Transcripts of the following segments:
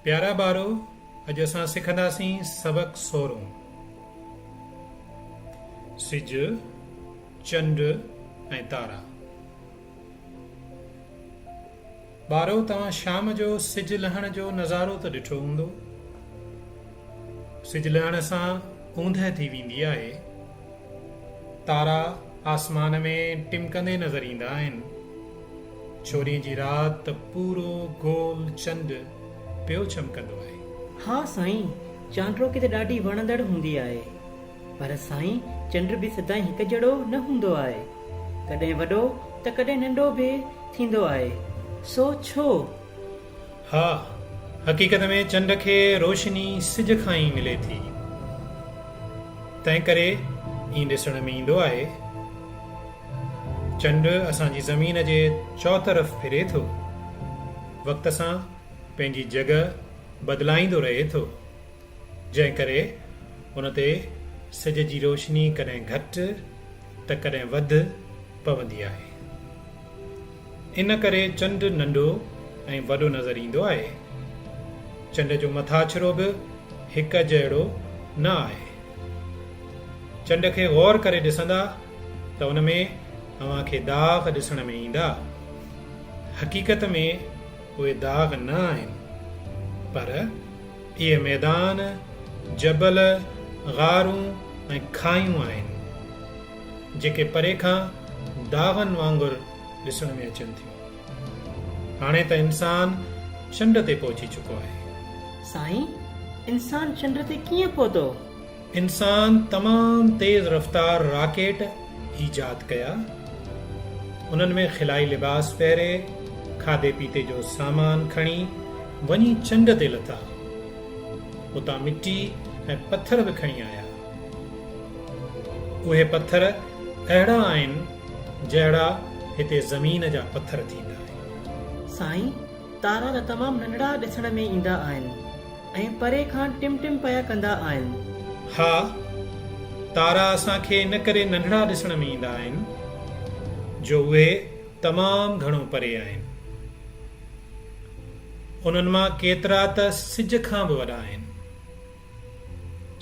پيارا ٻارو! اڄ اسان سکنداسين سبق سورهون. سج، چنڊ ۽ تارا. ٻارو! توهان شام جو سج لهڻ جو نظارو ته ڏٺو هوندو. سج لهڻ سان اوندهه ٿي ويندي آهي. تارا آسمان ۾ ٽمڪندي نظر ايندا آهن. ڇورين جي رات ته پورو گول چنڊ پيو چمڪندو آهي. ها سائين چانڊروڪي ته ڏاڍي وڻندڙ هوندي آهي پر سائين چنڊ به سدائين هڪ جهڙو نه هوندو آهي ڪڏهن وڏو ته ڪڏهن ننڊو به ٿيندو آهي سو ڇو؟ ها، حقيقت ۾ چنڊ کي روشني سج کان ئي ملي ٿي، تنهنڪري ائين ڏسڻ ۾ ايندو آهي. چنڊ اسان جي زمين جي چؤطرف ڦري ٿو، وقت سان پنهنجي جڳهه بدلائيندو رهي ٿو، جنهن ڪري ان تي سج جي روشني ڪڏهن گهٽ ته ڪڏهن وڌ پوندي آهي. ان ڪري چنڊ ننڍو ۽ وڏو نظر ايندو آهي. چنڊ جو مٿاڇرو به هڪ جهڙو نه آهي. چنڊ کي غور ڪري ڏسندا ته ان ۾ اوهان کي داغ ڏسڻ ۾ ايندا. حقيقت ۾ اهي داغ نه آهن پر اهي ميدان، جبل، غارون ۽ کاهيون آهن. جيڪي پري کان داغن وانگر ڏسڻ ۾ اچن ٿيون. هاڻي ته انسان چنڊ تي پهچي چڪو آهي. سائين انسان چنڊ تي ڪيئن پهتو؟ انسان تمام تيز رفتار راڪيٽ ايجاد ڪيا. انهن ۾ خلائي لباس پهري، کاڌي پيتي جو سامان کڻي وڃي چنڊ تي لٿا. اتان مٽي ۽ پٿر به کڻي آيا. اهي پٿر اهڙا آهن جهڙا هتي زمين جا پٿر ٿيندا آهن. سائين تارا ته تمام ننڍڙا ڏسڻ ۾ ايندا آهن ۽ پري کان ٽم ٽم پيا ڪندا آهن. ها تارا اسان کي ان ڪري ننڍڙا ڏسڻ ۾ ايندا آهن جو اهي تمام گهڻو پري آهن. انهن مان ڪيترا ته سج کان به وڏا آهن.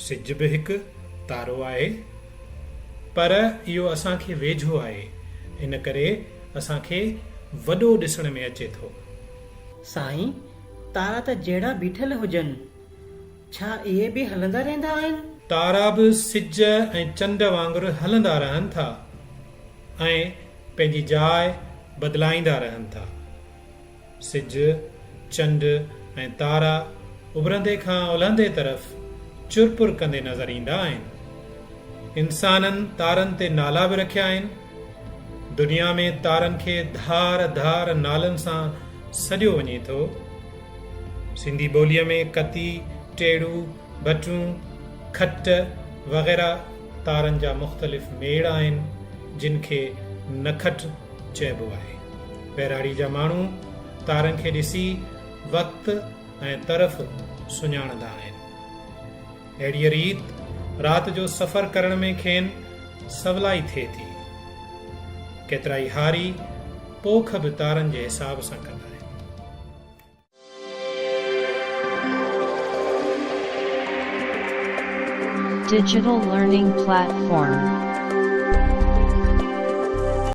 سج به هڪ تارو آهي پر اهو اسان کي ويجهو آهي ان ڪري اسان کي وڏو ڏسڻ ۾ اچي ٿو. سائين تارا ته جهڙا بيٺل هجن ڇا اهي به هلندا رهندا آهن؟ تارا به سج ۽ چنڊ وانگر هلندا رهن ٿا ۽ پنهنجي جاء بدلائيندا رهن ٿا. سج، چنڊ ۽ تارا اڀرندي کان الهندي طرف چر پر ڪندي نظر ايندا آهن. انسانن تارن تي نالا به رکيا آهن. دنيا ۾ تارن کي ڌار ڌار نالن سان سڏيو وڃي ٿو. سنڌي ٻوليء ۾ ڪتي، ٽيڙو، ڀٽون، کٽ وغيره تارن جا مختلف ميڙ آهن، جن کي نکٽ، چئبو آهي. ٻهراڙي جا ماڻهو تارن کي ڏسي وقت ۽ طرف سڃاڻندا آهن. اهڙيء ريت رات جو سفر ڪرڻ ۾ کين سولائي ٿئي ٿي. ڪيترائي هاري پوک به تارن جي حساب سان ڪندا آهن. Digital Learning Platform